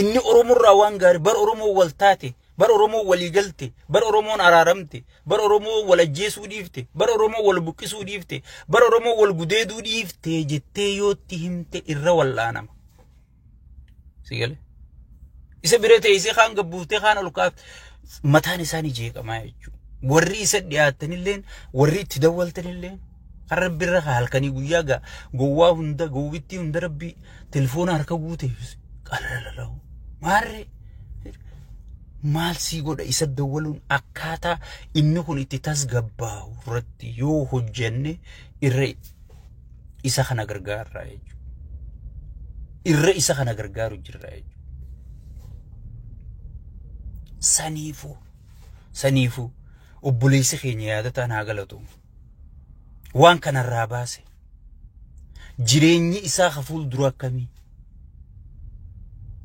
Inni Oromoorraa waan gaarii bara Oromoo wal taate, bara Oromoo walii galte, bara Oromoon araaramte, bara Oromoo wal ajjeesuu dhiifte, bara Oromoo wal buqqisuu dhiifte, bara Oromoo wal gudeeduu dhiifte jettee yootti himte irra wal'aanama. Si galee? Isa bira teessee kaan gabbuuftee kaan ol kaafte mataan isaanii jeeqamaa jechuudha. Warri isa dhiyaatanilleen warri itti dawwaltanilleen Kan rabbi irra kaa halkanii guyyaa gaa gowwaa hunda gowwittii hunda rabbi telefoona harka guute qalalalau maarree maal sii godha isa dawwaluun akkaataa inni kun itti tasgabbaa'u irratti yoo hojjenne irra isa kana gargaarraa jechuudha. Irra isa kana gargaaru jirra jechuudha. Saniifuu saniifuu obboleessi keenya yaadataan haa galatoomnu. waan kanarraa baase jireenyi isaa ka fuuldura akkamii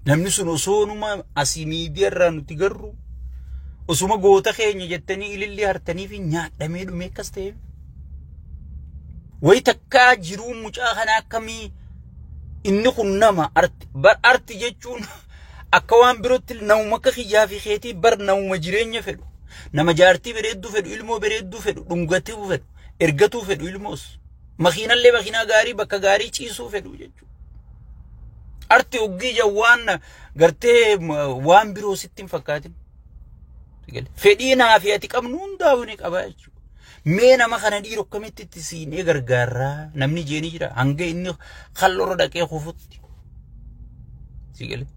namni sun osoonuma asii miidiyaarraa nuti garru osuma goota keenya jettanii ilillii hartanii fi nyaadhamee dhumee akkas ta'e wayi takkaa jiruu mucaa kana akkamii inni kun nama arti jechuun Akka waan birootti namuma akka kiyyaa fi keetii bar namuma jireenya fedhu. Nama jaartii bareedduu fedhu, ilmoo bareedduu fedhu, dhungatuu fedhu, ergatuu fedhu ilmoos. Makiinallee makiinaa gaarii bakka gaarii ciisuu fedhu jechuudha. Arti oggii jawwaan gartee waan biroo sitti hin fakkaatin. Fedhii naa fi ati qabnu hundaa'uu ni qaba jechuudha. Mee nama kana dhiiru akkamitti itti siinee gargaarraa namni jeenii jira hanga inni kalloorra dhaqee kufutti. Si galee.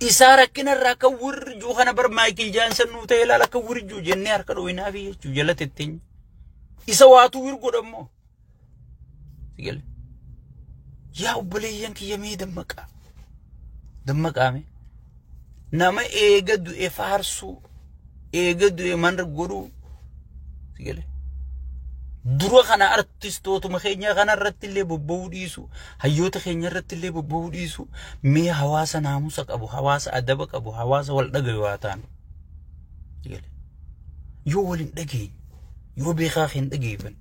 isaa rakkina irraa akka wirjuu kana bar maayikil jaansan nuu ta'e ilaala akka wirjuu jennee harka dhooyinaa fi jechuu jala tetteenya. Isa waatuu wirgodha immoo Sigale. Yaa obboleeyyan kiyya mee dammaqaa. Dammaqaa mee. Nama eega du'e faarsuu. Eega du'e manra godhuu. Sigale. Dura kana artistootuma keenya kana irratti illee bobba'uu dhiisu. Hayyoota keenya irratti illee bobba'uu dhiisu. Mee hawaasa naamusa qabu, hawaasa adaba qabu, hawaasa wal dhagayu haa taanu. Sigale. yoo wal hin dhageenye yoo beekaa kee hin dhageeffanne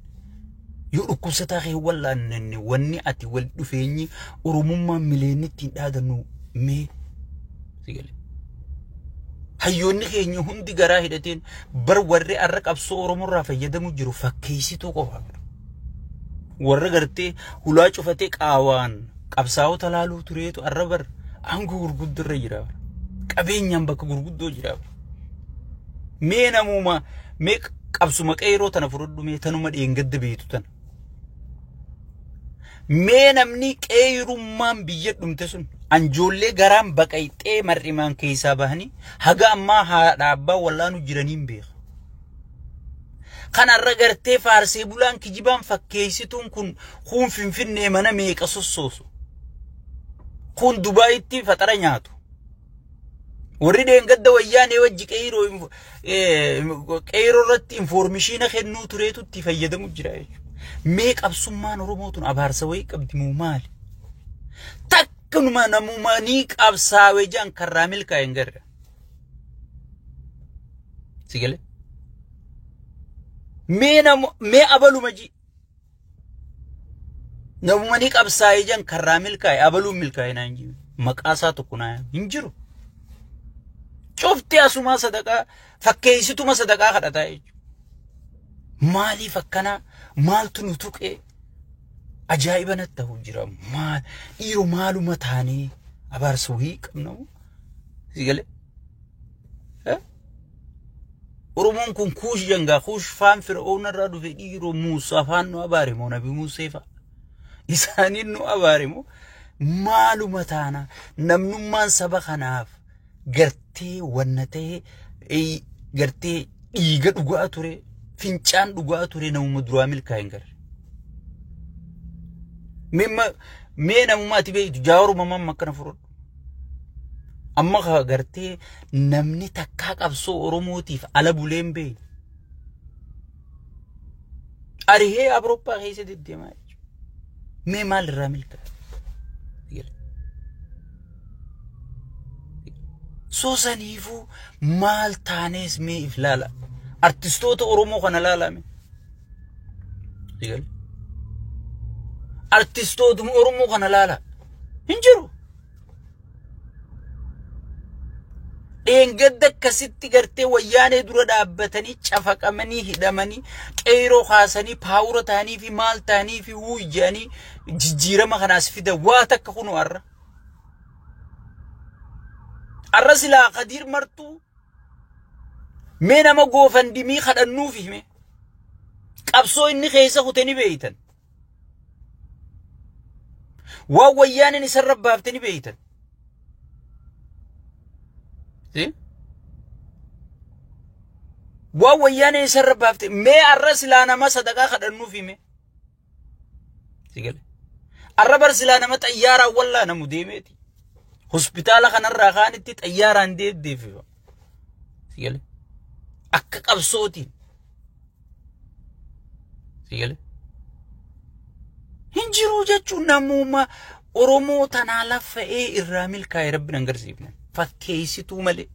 yoo dhukkubsataa kee hin wallaanne wanni ati wal dhufeenyi oromummaa mileennitti hin dhaadannu mee si galee. Hayyoonni keenya hundi garaa hidhateen bar warri arra qabsoo Oromoorraa fayyadamu jiru fakkeessituu qofa. Warra gartee hulaa cufatee qaawaan qabsaa'ota laaluu tureetu arra bar aangoo gurguddoo irra jira bar. qabeenyaan bakka gurguddoo jira bar. mee namuuma mee qabsuma qeeroo tana fudhadhu mee tanuma dheengadda beektu tana mee namni qeerummaan biyya dhumte sun anjoollee garaan baqayxee mar'imaan keessaa bahanii haga ammaa haadha abbaa wallaanu jiraniin beeka Kan har'a gartee faarsee bulaan kijibaan fakkeessituun kun kuun finfinnee mana meeqa sossoosu. Kuun Dubaayitti faxara nyaatu. Warri deengadda wayyaanee wajji qeeyiroo info- eh, qeeyiroo irratti infoormishiina kennuu tureetu itti fayyadamu jira jechuudha. Mee qabsummaan Oromoo tun abaarsa wayii qabdi moo maali? Takkanuma namumanii qabsaawe jedhan karraa milkaa'e hin garre. si gale mee nam mee abaluma ji namuma ni qabsaa'ee jan karraa milkaa'e abaluun milkaa'e naan jiru maqaa isaa tokko naa hin jiru cufti asumaa sadaqaa fakkeessituma sadaqaa kadhataa jechuudha maaliif akkanaa maaltu nu tuqee Ajaa'iba natti ta'u jira. Maal dhiiroo maaluma taanee abaarsa wayii qabna moo? Si galee? Eh? Oromoon kun kuush jangaa kuush faan fir'oon irraa dhufe dhiiroo Muusaa faan nu abaare moo nabi Muusee fa'a? Isaaniin nu abaare moo? Maaluma taana namnummaan saba kanaaf gartee wanna ta'e eh, gartee dhiiga dhugaa ture fincaan dhugaa ture namuma duraa milkaa hin garre. Mimma mee namuma ati beektu jaaruma mamma akkana fudhadhu. Amma ka gartee namni takkaa qabsoo Oromootiif ala bulee hin beekne. Arihee Awurooppaa keessa deddeemaa jechuudha. Mee maal irraa milkaa'e? Soo saniifuu maal taanees mee if laala. Artistoota Oromoo kana laalame. Artistootuma Oromoo kana laala. Hin jiru. dheengadda akkasitti gartee wayyaanee dura dhaabbatanii cafaqamanii hidhamanii qeyroo kaasanii paawura ta'anii fi maal ta'anii fi wuyyanii jijjiirama kanaas fida waa takka kunu har'a. Har'a silaa kadiir martuu mee nama goofandimii kadhannuuf hime qabsoo inni keessa kute ni beeytan. Waan wayyaaneen isarra baafte ni beektan. Waan wayyaaneen isarra baafte mee arra silaa nama sadaqaa kadhannuuf hime. Arra bar silaa nama xayyaaraan wallaanamu deemeeti. Hospitaala kanarraa kaanitti xayyaaraan deeddeeffifama. Akka qabsootiin. Sii galee? Hin jiruu jechuun namuma Oromoo tanaa laffa'ee irraa milkaa'e rabbi nan garsiifne. Fakkeessituu malee.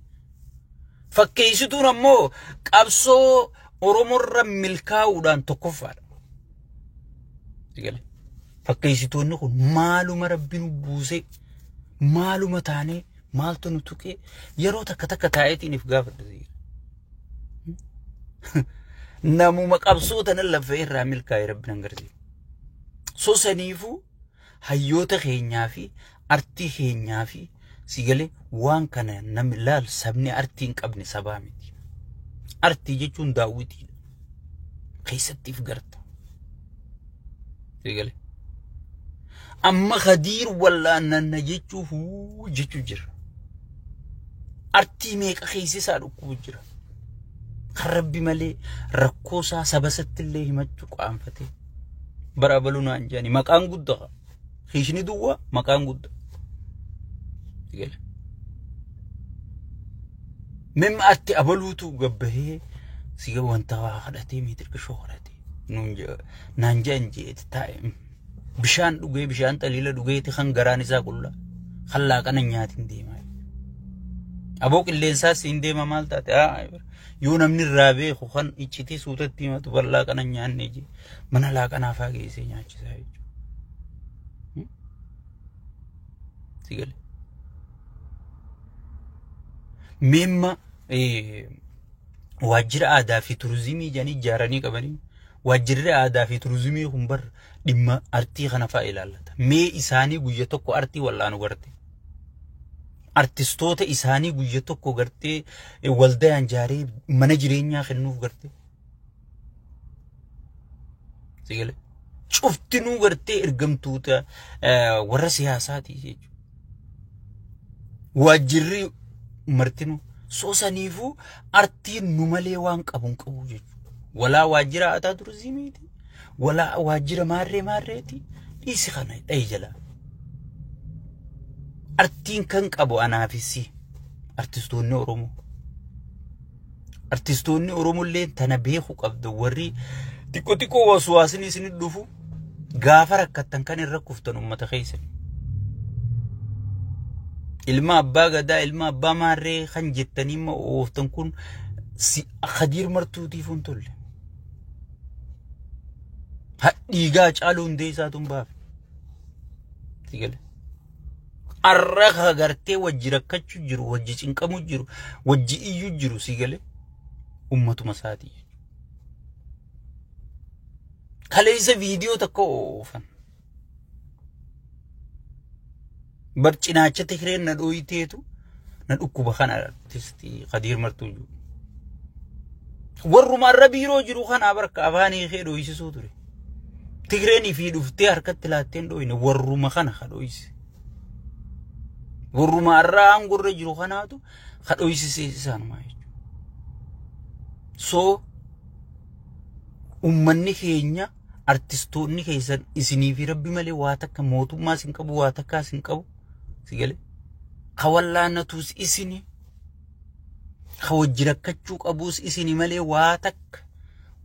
Fakkeessituun ammoo qabsoo Oromoorra milkaa'uudhaan tokkoffaadha. Sii galee? Fakkeessitoonni kun maaluma rabbi nu buusee maaluma taanee maaltu nu tuqee yeroo takka takka taa'eetiiniif gaafadha. namuma qabsoo tanan laffee irraa milkaa'e rabbi nan garsiisa. So saniifuu hayyoota keenyaa fi artii keenyaa fi sigalee waan kana namni laal sabni artii hin qabne sabaa miti. Artii jechuun daawwitiidha. Keessattiif garta. Eegale. Amma Khadiir wallaannanna jechuu huu jechuu jira. Artii meeqa keessa isaa dhukkubuu jira. Kan rabbi malee rakkoo isaa saba isatti illee himachuu qaanfatee. Bara abaluu naan jedhani maqaan guddaa. Hiishni duwwaa maqaan guddaa. Eegale. Mimma atti abaluutu gabbahee si wanta waa kadhatee miitirqishoo kadhatee. naan je'an jeeti taa'e bishaan dhugee bishaan xaliila dhugeeti kan garaan isaa qulla kan laaqana nyaatiin deemaa aboo qilleensaa siin deema maal taate yoo namni irraa beeku kan iccitii suutatti himatu kan laaqana nyaanne jee mana laaqanaa faa geessee nyaachisaa jechuudha. Sigale. Mimma waajjira aadaa fi turizimii jedhanii ijaaranii qabanii waajjirri aadaa fi turizimii kun bar dhimma artii kana fa'a ilaallata. Mee isaanii guyya tokko artii wal'aanu garte. Artistoota isaanii guyya tokko gartee waldayaan jaaree mana jireenyaa kennuuf garte. Sigale. Cuftinuu gartee ergamtoota warra siyaasaati jechuudha. Waajjirri martinuu soosaniifuu artiin nu malee waan qabu hin qabu jechuudha. Walaa waajjira aadaa turizimiiti. Walaa waajjira maarree maarreeti. Dhiisi kana dhahi jalaa. Artiin kan qabu anaafissi artistoonni Oromoo. Artistoonni Oromollee tana beeku qabda warri xiqqoo xiqqoo waswaasni isin dhufu gaafa rakkattan kan irra kuftan uummata keessan. Ilma abbaa gadaa ilma abbaa maarree kan jettanii immoo ooftan kun si Khadiir Martuutiif hin tolle. Hadhiigaa caaluu hundee isaatu hin baafe. Sigale. Arra agartee wajji rakkachu jiru, wajji cinqamu jiru, wajji iyyu jiru si gale ummatuma isaati. Kaleessa viidiyoo tokko oofan. Bar cinaacha Tigreen na dhooyiteetu na dhukkuba kana artisti Kadiir Martuu jiru. Warruma arra biiroo jiru kana barka afaanii kee dhooysisuu ture. Tigreenii fi dhuftee harkatti laatteen dhooyne warruma kana ka dhooyse. Warruma har'a aangorra jiru kanaatu ka dhooysisee isaanuma jechuudha. So ummanni keenya artistoonni keessan isinii fi rabbi malee waa takka mootummaa isin qabu waa takkaa isin qabu si galee ka wallaanatuus isinii. Ka wajji rakkachuu qabuus isini malee waa takka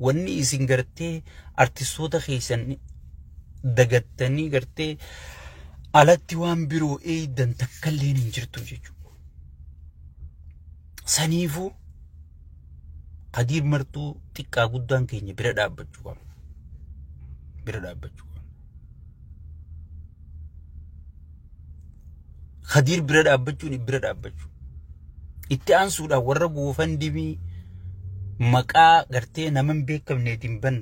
wanni isin gartee artistoota keessan dagattanii gartee alatti waan biroo eeydan takkalleen hin jirtu jechuudha. Saniifuu Kadiir Martuu xiqqaa guddaan keenya bira dhaabbachuu qabna. Bira dhaabbachuu qabna. Kadiir bira dhaabbachuun bira dhaabbachuu. Itti aansuudhaan warra goofan dibii maqaa gartee nama hin beekamneetiin ban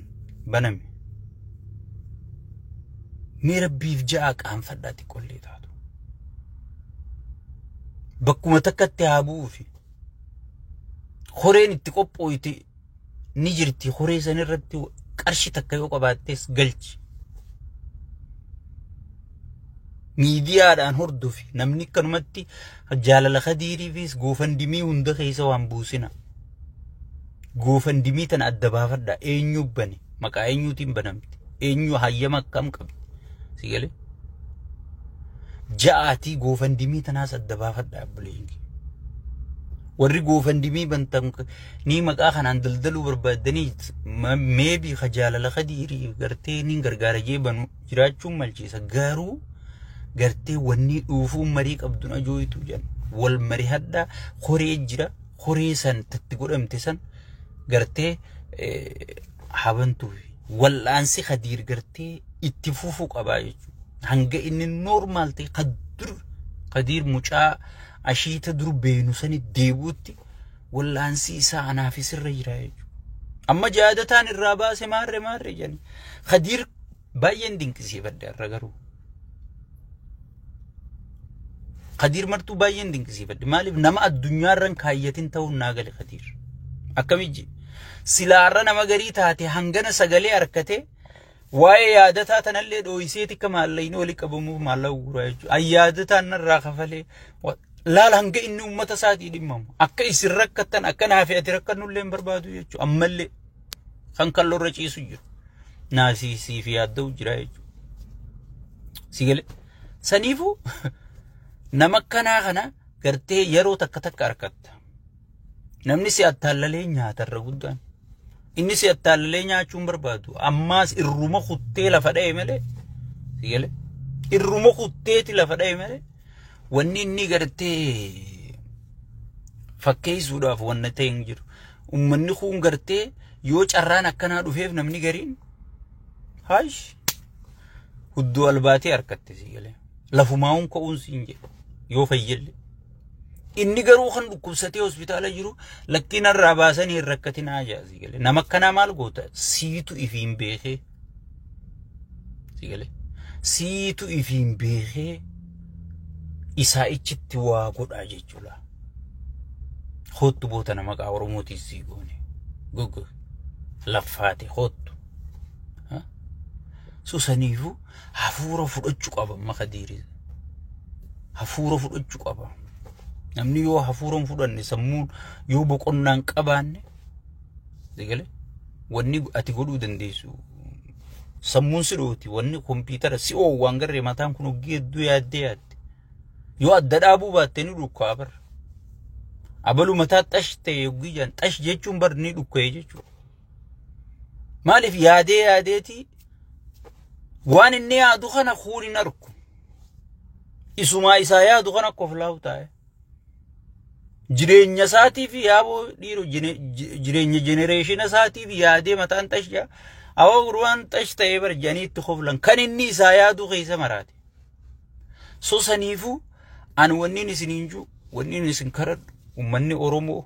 baname. Mee rabbiif ja'a qaanfadhaa xiqqollee taatu. Bakkuma takkatti haa bu'uufi. Horeen itti qophooyte ni jirti horee san irratti qarshi takka yoo qabaattees galchi. Miidiyaadhaan hordofi namni akkanumatti jaalala kadiiriifis goofandimii hunda keessa waan buusina. Goofandimii tana adda baafadha eenyu bane maqaa eenyuutiin banamte eenyu hayyama akkam qabdi si galee. Ja'aatii goofandimii tanaas adda baafadha abbuleen kee. Warri goofandimii bantan Nii maqaa kanaan daldaluu barbaaddanii meebii ka jaalala kadiirii gartee niin gargaara jee banu jiraachuun malchiisa garuu gartee wannii dhuufuu marii qabdun ajooytu jedhan wal marii hadhaa koree jira koree san tatti godhamte san gartee habantuuf wal'aansi kadiir gartee itti fufuu qabaa jechuudha hanga inni noormaal ta'e kadur kadiir mucaa ashiita dur beenu sani deebuutti Wal'aansii isaa anaafis irra jira jechuudha. Amma jaadataan irraa baase maarre maarre jedhani. Kadiir baay'een dinqisiifadhe irra garuu. Kadiir martuu baay'een dinqisiifadhe. Maaliif nama addunyaarran kaayyatin ta'uun naa gale Kadiir. Akkamijji silaarra nama garii taate hangana sagalee harkate Waa'ee yaadataa tanallee dhooyisee tikka maallayni wali qabamuuf maallaqa guuraa jechuudha. An yaadataan narraa kafalee wa- laal hanga inni uummata isaatii dhimmamu. Akka isin rakkattan akka naa fi ati rakkannullee hin barbaadu jechuudha. Ammallee kan kalloorra ciisu jiru. Naasiisii fi yaadda'u jira jechuudha. Si galee. Saniifuu nama akkanaa kana gartee yeroo takka takka argatta. Namni si attaallalee nyaata irra guddaan. Inni si attaallalee nyaachuu hin barbaadu. Ammaas irruma kuttee lafa dha'e malee. Si galee? Irruma kutteeti lafa dha'e malee. Wanni inni gartee fakkeessuudhaaf wanna ta'e hin jiru. Uummanni kun gartee yoo carraan akkanaa dhufeef namni gariin haash hudduu albaatee harkatti si galee. Lafumaa'uun ka'uun siin jedhu yoo fayyelle. Inni garuu kan dhukkubsatee hospitaala jiru lakkii narraa baasanii hin rakkatinaa jaasii galee. Nama akkanaa maal goota? Siitu ifiin beekee. Sii galee. Siitu ifiin beekee isaa ichitti waa godhaa jechuudha. Hoottu boota nama qaa Oromootiin sii goone. Goggo. Laffaate hoottu. Susaniifuu hafuura fudhachu qaba amma kadiirin hafuura fudhachu qaba namni yoo hafuura hin fudhanne sammuun yoo boqonnaa hin qabaanne sigale wanni ati godhuu dandeessu sammuun si dhooti wanni kompiitara si oo waan garree mataan kun hoggii hedduu yaaddee yaadde yoo adda dhaabuu baatte ni dhukkaa bar abalu mataa xash ta'e hoggii jaan xash jechuun bar ni dhukka'e jechuudha Maaliif yaadee yaadeeti waan inni yaadu kana kuun hin argu. Isumaa isaa yaadu kana koflaawu taa'e. Jireenya isaatiif yaaboo dhiiru jireenya jenereeshina isaatiif yaadee mataan xashaa awwa gurbaan xash ta'ee barjanii itti koflan kan inni isaa yaadu keessa maraate. So saniifuu an wanniin isiniin jiru wanniin isin karadhu ummanni Oromoo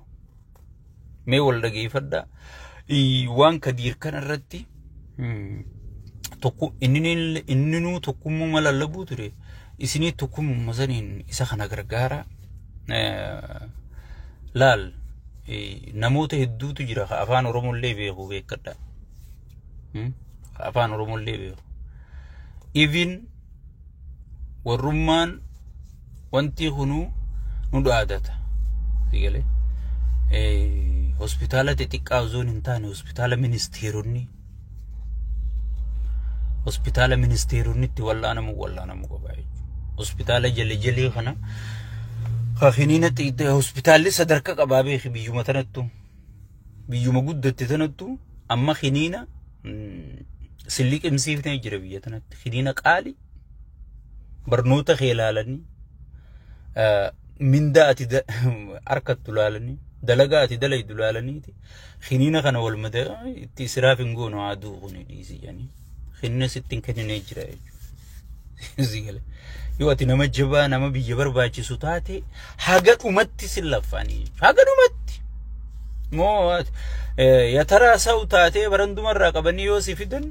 mee wal dhageeffadhaa Ii, waan kadiir kana irratti mm, tokko inni inninuu tokkummaa lallabuu ture isinii tokkummaa saniin isa kana gargaara Eh, laal eh, namoota hedduutu jira ka afaan Oromoo illee beeku beekadha afaan oromoon deebi'u even warrummaan wanti kunuu nu dhaadata sigalee hospitaala xixiqqaa osoo hin taane hospitaala ministeeronni hospitaala ministeeronitti wal'aanamu wal'aanamu qaba jechuudha hospitaala jalejalee kana kakiniina hospitaalli sadarkaa qabaa beeki biyyuma tanattu. biyyuma guddatte tanattu amma kiniina silli qimsiifnee jira biyya tanatti kiniina qaali barnoota kee ilaalanii mindaa ati harkattu ilaalanii dalagaa ati dalaydu ilaalaniiti kiniina kana wal madaa itti israaf hin goonu haa du'u kuni dhiisi jedhanii. hinna sitti hin kenninee jira jechuudha. Si gale. Yoo ati nama jabaa nama biyya barbaachisu taate haga dhumatti sin laffaanii jechuudha. Haga dhumatti. Moo ati, eh, yataraa sa'u taatee barandumarraa qabanii yoo si fidan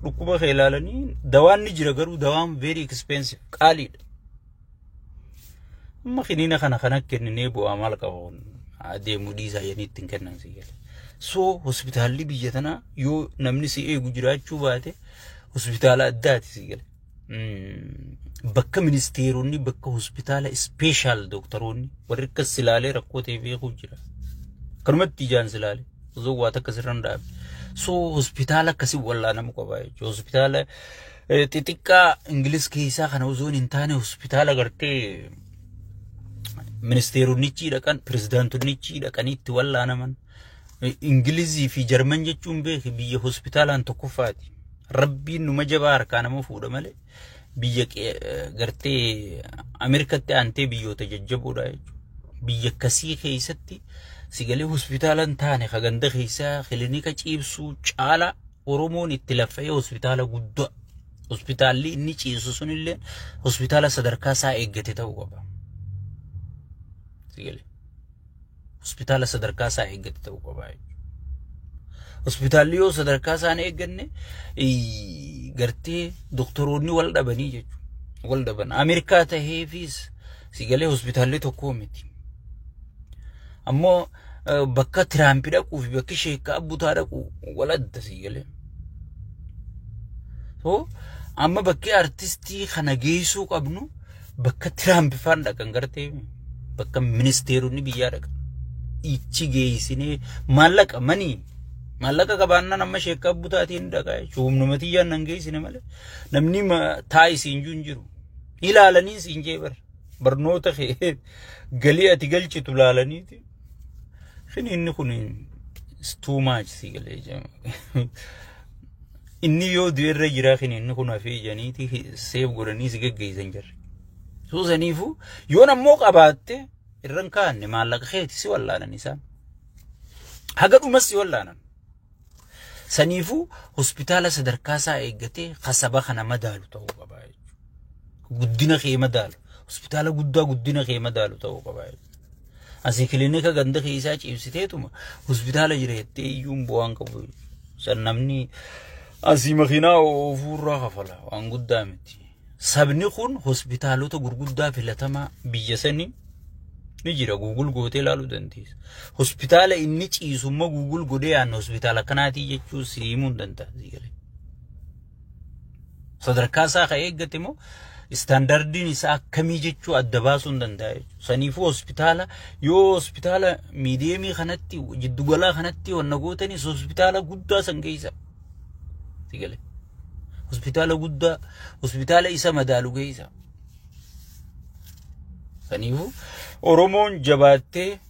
dhukkuba kee ilaalanii dawaan ni jira garuu dawaan very expensive qaaliidha. Amma kiniina kana kana kenninee bu'aa maal qaba kun adeemuu dhiisaa jedhanii ittiin kennan si gale. So hospitaalli biyya tanaa yoo namni si eegu jiraachuu baate hospitaala addaati si gale. Bakka ministeeronni bakka hospitaala ispeeshaal dooktaroonni warri akkas silaalee rakkoo ta'e beekuu jira. Kanumatti ijaan silaalee osoo waa takka sirra hin dhaabne. So hospitaala akkasii wallaanamu qaba jechuudha. Hospitaala xixiqqaa Ingilis keessaa kana osoon hin taane hospitaala gartee ministeeronichi dhaqan pirezidaantonichi dhaqanii itti wallaanaman Ingilizii fi Jarman jechuun beeki biyya hospitaalaan tokkoffaati. Rabbiin numa jabaa harkaa nama fuudha malee biyya gartee Ameerikatti aantee biyyoota jajjaboodha jechuudha. Biyya akkasii keessatti sigalee hospitaalaan taane ka ganda keessaa kilinika ciibsuu caalaa Oromoon itti laffa'ee hospitaala guddaa hospitaalli inni ciisu sunillee hospitaala sadarkaa isaa eeggate ta'uu qaba. Sigale. Hospitaala sadarkaa isaa eeggate ta'uu qaba. Hospitaalli yoo sadarkaa isaa hin eegganne ii, gartee doktoroonni wal dhabanii jechuudha. Wal dhaban. Ameerikaa taheefis sigalee hospitaalli tokkoo miti. Ammoo bakka Tiraampi dhaquu fi bakki sheekka abbutaa dhaqu wal adda sii galee. So amma bakki artistii kana geessuu qabnu bakka Tiraampi faan dhaqan gartee bakka ministeeronni biyyaa dhaqan. Ichi geessinee maallaqa manii maallaqa qabaannaan amma sheekka abbutaatiin dhaqaa jechuudha. Humna matiyyaan nan geessine malee namni taa'isiin jiru hin jiru. Ilaalanii siin jee bara. barnoota kee galii ati galchitu laalaniiti kini inni kun is too much si galee jama inni yoo du'e irra jiraa kini inni kun hafee janiiti seef godhanii si geggeessan jirre soo saniifu yoon ammoo qabaatte irran kaanne maallaqa keeti si wallaanan isaan haga dhumas si wallaanan Saniifuu hospitaala sadarkaa isaa eeggatee ka saba kana madaalu ta'uu qaba jechuudha. Guddina kee madaalu. Hospitaala guddaa guddina kee madaalu ta'uu qaba jechuudha. Asii kilinika ganda keessaa ciibsiteetuma hospitaala jira jettee iyyuun bu'aan qabu. San namni asii makiinaa oofuurraa kafala waan guddaa miti. sabni kun hospitaalota gurguddaa filatamaa biyya sanii ni jira guugul gootee ilaaluu dandeessa. Hospitaala inni ciisu immoo guugul godhee yaadna hospitaala akkanaatii jechuu si himuu hin danda'a. Sadarkaa isaa kan eeggate immoo istaandardiin isaa akkamii jechuu adda baasuu hin danda'a jechuudha. Saniifuu hospitaala yoo hospitaala miidiyeemii kanatti jiddugalaa kanatti wanna gootanis hospitaala guddaa san geessa. Sigalee. hospitaala guddaa hospitaala isa madaalu geessa. Kaniifuu Oromoon jabaattee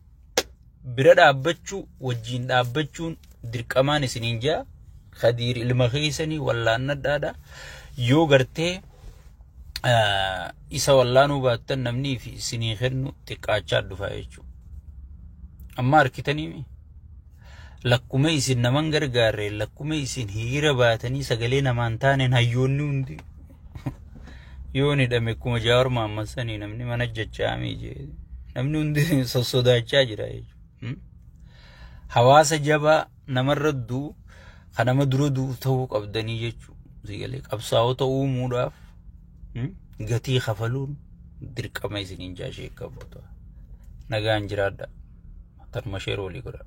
bira dhaabbachuu wajjin dhaabbachuun dirqamaan isiniin jaa kadiir ilma keessanii wallaannadhaadha yoo gartee isa wallaanuu baattan namnii fi isinii kennu xiqqaachaa dhufa jechuudha. Amma harkitanii Lakkuma isin naman gargaarreen lakkuma isin hiriira baatanii sagalee namaan taaneen hayyoonni hundi yoon hidhame akkuma Jaawar Mahammad sanii namni mana jajjaamii jee namni hundi sossodaachaa jira jechuudha. Hawaasa jabaa namarra du'u kan nama dura du'u ta'uu qabdanii jechuudha. Qabsaa'ota uumuudhaaf gatii kafaluun dirqama isiniin jaashee qabdu nagaan jiraadha. Tarma sheer walii godhaa.